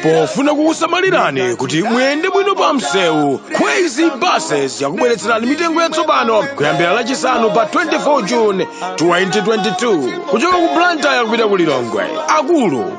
pofuna kukusamalirani kuti muyende bwino pa msewu kwezy buses yakubweretserani mitengo yatsopano kuyambira lachisanu pa 24 june 2022 kuchoka ku blantyre kupita ku lilongwe akulu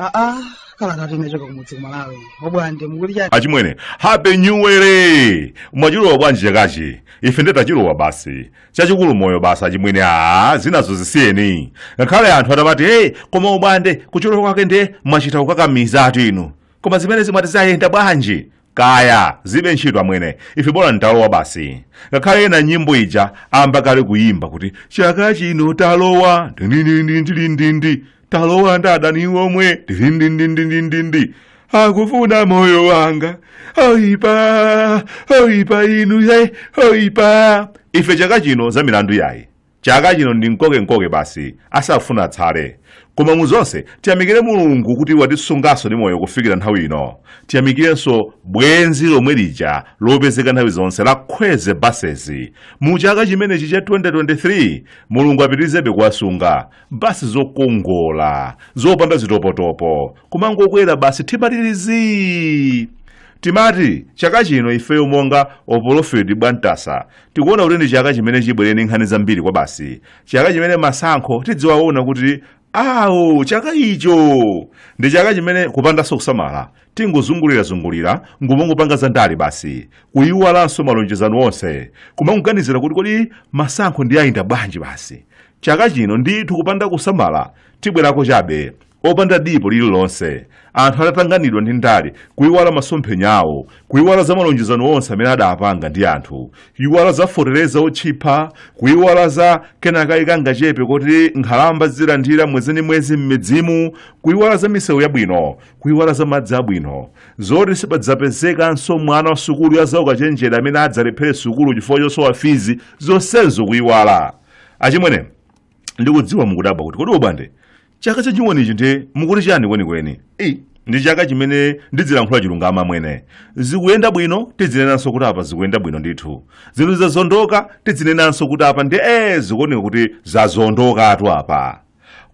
aa kalatatu inachoka kumudzi kumalawi obwande mukuti chani achimwene happy new year mwachilowa bwanji chakachi ife nde tachilowa basi chachikulu moyo basi achimwene aa zinazo zisiyeni ngakhale anthu atamati hey koma obwande kuchilowa kwake nde mwachita kukakamizatu inu koma zimene zimati zayenda bwanji kaya zilibe ntchito amwene ife bola talowa basi ngakhale ena nyimbo ija ayamba kale kuyimba kuti chaka chino talowa ndindindindindindi talowa ndi adani omwe tizindindindindindindi akufuna moyo wanga oipa oipa inu he oipa ife chaka chino za milandu yayi chaka chino ndi mkokenkoke basi asafuna atsale koma mu zonse tiyamikire mulungu kuti watisunganso ndi moyo kufikira nthawi ino tiyamikirenso bwenzi lomwe lija lopezeka nthawi zonse la kwezy buses mu chaka chimenechi cha 2023 mulungu apitirizebe kuwasunga basi zokongola zopanda zitopotopo kumangokwera basi timatirizi timati chaka chino ifeyo monga opolofeti bwantasa tikuona kuti ndi chaka chimene chibwere ndi nkhani zambiri kwabasi chaka chimene masankho tidziwaona kuti awo chaka icho ndi chaka chimene kupandanso kusamala tingozungulirazungulira nkumangopanga zandale basi kuyiwalanso malonjezano onse kumangoganizira kuti kodi masankho nde ayenda bwanji basi chaka chino ndithu kupanda kusamala tibwerako chabe opanda dipo lililonse anthu atatanganidwa ndi ndale kuiwala masomphenya awo kuiwala za malonjezano onse amene adapanga ndi anthu kuiwala za fotereza otchipa kuiwala za kenakake kangachepe koti nkhalamba zizilandira mwezi ndi mwezi m'midzimu kuiwala za misewu yabwino kuiwala za madzi abwino zoti sipadzapezekanso mwana wa sukulu ya zaukachenjera amene adzalephere sukulu chifukwa chosowa fizi zonsezo kuiwala achimwene ndikudziwa mukudabwa kuti kodi obwande chaka cha chiwoni ichi nde mukuti chani kwenikweni Ei, ndi chaka chimene ndidzilankhula chilungamo amwene zikuyenda bwino tidzinenanso kuti apa zikuyenda bwino ndithu zinthu zikazondoka tidzinenanso kuti apa ndi ee zikuoneka kuti zazondokatu apa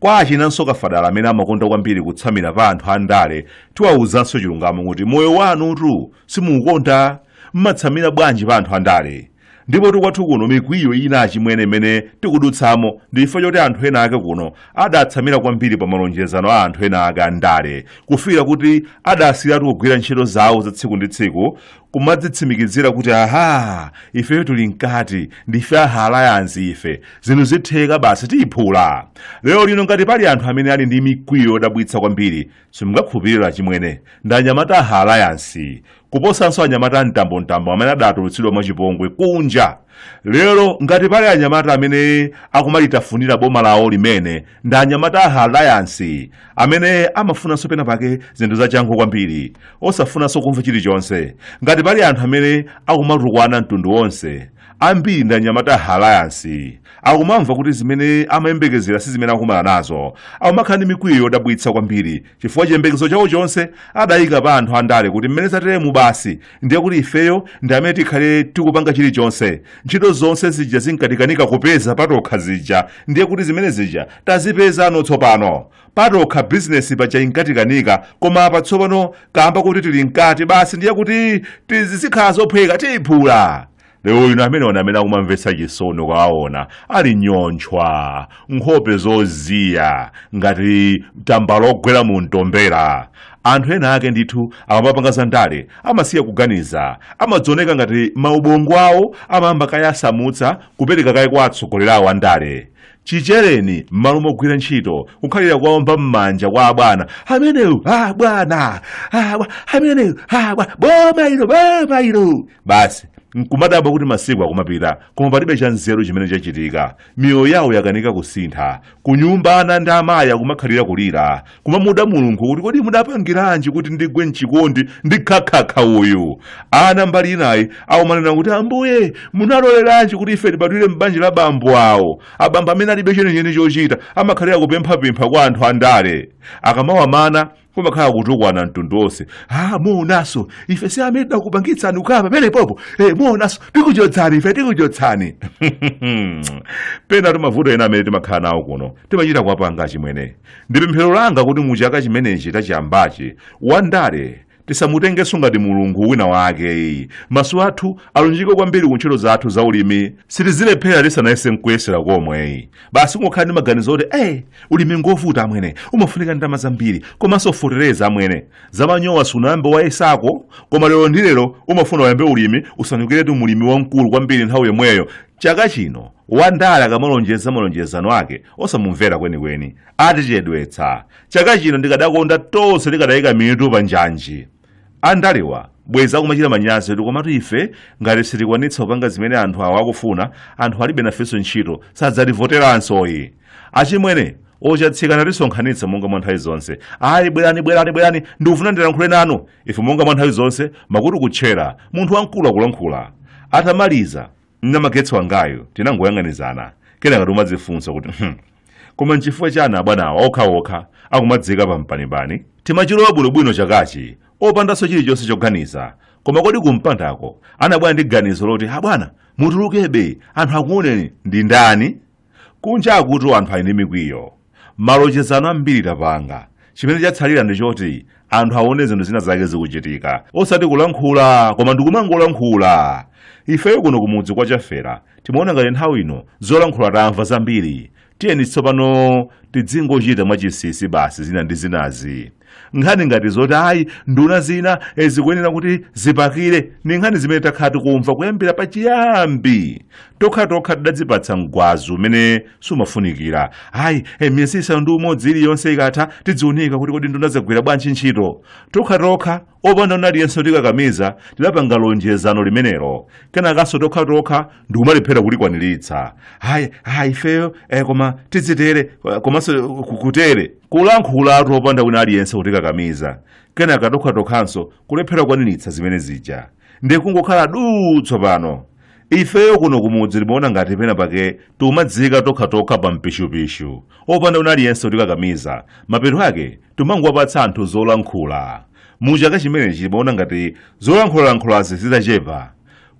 Kwa achinanso kafadala amene amakonda kwambiri kutsamira pa anthu andale, tiwauzanso chilungamo kuti moyo wanutu simukuukonda. Mmatsamira bwanji pa anthu andale? Ndipotu kwathu kuno mikwiyo ina chimwene imene tikudutsamo ndi chifukwa choti anthu ena ake kuno adatsamira kwambiri pa malonjezano a anthu ena ake andale kufikira kuti adasiyiratu kugwira ntchito zawo za tsiku ndi tsiku kumadzitsimikizira kuti aha ifeyo tuli mkati ndife a alliance ife zinthu zitheka basi tiyiphula lero lino ngati pali anthu amene ali ndi mikwiyo yodabwitsa kwambiri simungakhulupirira chimwene ndi anyamata a alliance kuposanso anyamata amtambontambo amene adatulutsidwa mwachipongwe kunja lero ngati pali anyamata amene akumalitafunira boma lawo limene ndi anyamata a alliance amene amafunanso pena pake zinthu zachangu kwambiri osafunanso kumva chilichonse ngati pali anthu amene akumatukwana mtundu wonse ambiri ndi anyamata a alliance akumamva kuti zimene amayembekezera si zimene akumana nazo akumakhala ndi mikwiyo yodabwitsa kwambiri chifukwa chiyembekezo chawo chonse adayika pa anthu andale kuti mmene zateremu basi ndiye kuti ifeyo ndi amene tikhale tikupanga chilichonse ntchito zonse zija zinkatikanika kupeza patokha zija ndiye kuti zimene zija tazipezano tsopano patokha bizinesi paja inkatikanika koma apa tsopano kaamba koti tili mkati basi ndiye kuti zizikhala zophweka tiyiphula lero lino amenewa ndi amene akumamvetsa chisoni ukawaona ali nyontchwa nkhope zoziya ngati tambala ogwera mu mtombera anthu ena ake ndithu akamapanga za ndale amasiya kuganiza zimaoneka ngati maubongo awo amayamba kaye asamutsa kupereka kaye kwa atsogoleri awo a ndale chichereni m'malo mogwira ntchito kukhalira kuomba m'manja kwa abwana ameneyu ah, bwana ah, bwa- ameneyu ah, bwa- boma ilo boma ilo basi nkumadabwa kuti masiku akumapita koma palibe cha nzeru chimene chachitika miyoyo yawo yakanika kusintha kunyumba ana ndi amayi akumakhalira kulira kumamuda mulungu kuti kodi mudapangiranji kuti ndigwe mchikondi ndi khakhakha uyu ana mbali ina akumanena kuti ambuye munaloleranji kuti ife tibadwire m'banja la bambo awa abambo amene alibe chenicheni chochita amakhalira kupemphapempha kwa anthu andale akamawamana kumakhala kutukwana mtundu wonse ah muonaso ife si amene tidakupangitsani kukhala pamenepopo eh muonaso tikuchotsani ife tikuchotsani pena timavuto ena amene timakhala nawo kuno timachita kuwapanga chimwene Ndi pemphero langa kuti mu chaka chimenechi tachiyambachi, Wandale tisamutengenso ngati mulungu wina wake. Maso athu alunjike kwambiri ku ntchito zathu za ulimi, tisazilephera tisanayese nkuyesera komwe. Basi kungokhala ndi maganizo oti eh, ulimi ngovuta amwene, umafunika ndalama zambiri, komanso feteleza amwene. Za manyowa sunayambe wayesako, koma lero ndi lero umafuna uyambe ulimi, usandukiretu mulimi wamkulu kwambiri nthawi yomweyo. Chaka chino wandale akamalonjeza malonjezano ake osamumvera kwenikweni atichedwetsa chaka chino ndikadakonda tonse tikadaika mitu pa njanji andalewa bwezi akumachita manyazi kuti komatu ife ngati sitikwanitsa kupanga zimene anthu awo akufuna anthu alibe nafenso ntchito sadzativoteranso ayi achimwene Ochatsika tisonkhanitsa monga mwa nthawi zonse ayi bwerani bwerani bwerani ndikufuna ndilankhule nanu ife monga mwa nthawi zonse makutu kutchera munthu wamkulu akulankhula atamaliza namagetsi wangayu tinangoyang'anizana kenaka timadzifunsa kuti "Hmm, koma nchifukwa chiyani abwanawa okhaokha akumadziika pampanipani timachilowa bwinobwino chakachi opandanso chilichonse choganiza koma kodi kumpandako anabwera ndi ganizo loti abwana mutulukebe anthu akuoneni ndi ndani Kunja kuno anthu ali ndi mikwiyo. Malonjezano ambiri tapanga. Chimene chatsalira ndi choti anthu aone zinthu zina zake zikuchitika. Osati kulankhula, koma ndi kumangolankhula. Ifeyo kuno kumudzi kwa Chafera timaona ngati nthawi ino zolankhula tamva zambiri. Tiyeni tsopano tidzingochita mwachinsinsi basi zina ndi zinazi. nkhani ngati zoti ayi nduna zina eh, zikuyenera kuti zipakire ni nkhani zimene takhala tikumva kuyambira pachiyambi tokha tokha tidadzipatsa mgwazi umene sumafunikira ayi eh, miyezi isanu ndi umodzi iliyonse ikatha tidziunika kuti kodi nduna zagwira bwanji ntchito tokha tokha opanda wina aliyense kutikakamiza tidapanga lonjezano limenelo kenakanso tokha tokha ndikumalephera kulikwaniritsa hayi hayi ifeyo eh, koma tidzitere eh, komanso eh, ku- kutere kulankhulatu opanda wina aliyense kutikakamiza kenaka tokhatokhanso kulephera kukwaniritsa zimene zija ndi kungokhala duu tsopano ifeyo kuno kumudzi timaona ngati pena pake tikumadziika tokhatokha pa mpishupishu opanda wina aliyense kutikakamiza mapeto ake timangowapatsa anthu zolankhula mu chaka chimenechi timaona ngati zolankhulalankhulazi zitachepa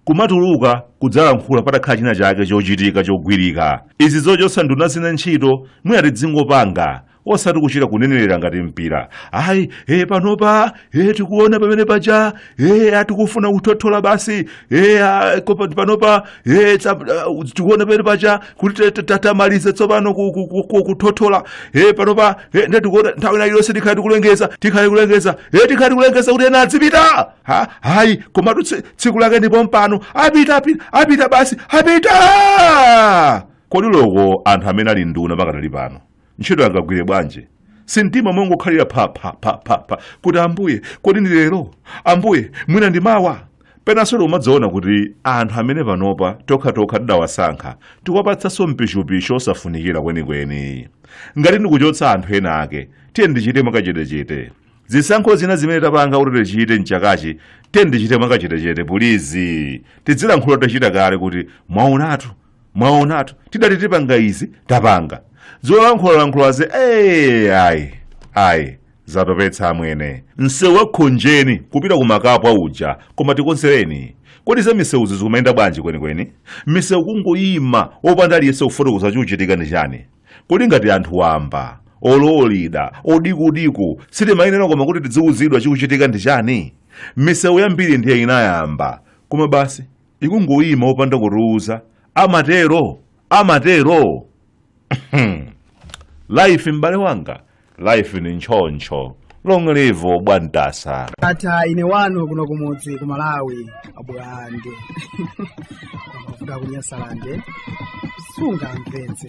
kumatuluka kudzalankhula patakhala china chake chochitika chogwirika izi zochotsa nduna zina ntchito mwina tidzingopanga osati kuchita kunenerera ngati mpira ayi e panopa e tikuona pamene paja e tikufuna kuthothola basi e a- ko- pa- panopa e tsa- a- tikuona pamene paja kuti ta- ta- ta- tamalize tsopano ku- ku- ku- ku- kuthothola e panopa e nde tikuona nthawi ina iliyonse tikhale tikulengeza tikhale kulengeza e tikhale tikulengeza kuti ena adzipita ha hayi komatu tsi- tsiku lake ndi pompano apita apita apita basi apita kodi loko anthu amene ali nduna pakadali pano ntchito angagwire bwanji si mtima umangokhalira phaphaphaphapha kuti ambuye kodi ndi lero ambuye mwina ndi mawa penanso tikumadziona kuti anthu amene panopa tokhatokha tidawasankha tikuwapatsanso mpishupishu osafunikira kwenikweni ngati ndikuchotsa anthu ena ake tiyeni tichite mwakachetechete zisankho zina zimene tapanga kuti tichite mchakachi tiyeni tichite mwakachetechete pulizi tidzilankhula tachita kale kuti mwaonatu mwaonatu tidati tipanga izi tapanga zolankhulalankhulazi ee ayi ayi zatopetsa amwene msewu wakhonjeni kupita ku Makapwa uja koma tikonzereni kodi za misewuzi zikumayenda bwanji kwenikweni misewu kungoyima wopanda aliyense kufotokoza chikuchitika ndi chani kodi ngati anthu wamba olo lida odikudiku sitimayenera kodi kuti tidziwuzidwa chikuchitika ndi chani misewu yambiri ndiye inayamba koma basi ikungoyima opanda kutiwuza amatero amatero life m'bale wanga life ni ntchoncho long live bwantasa tatha ine wanu kuno kumudzi ku malawi abulande amavuta kunyasalande sungamvetse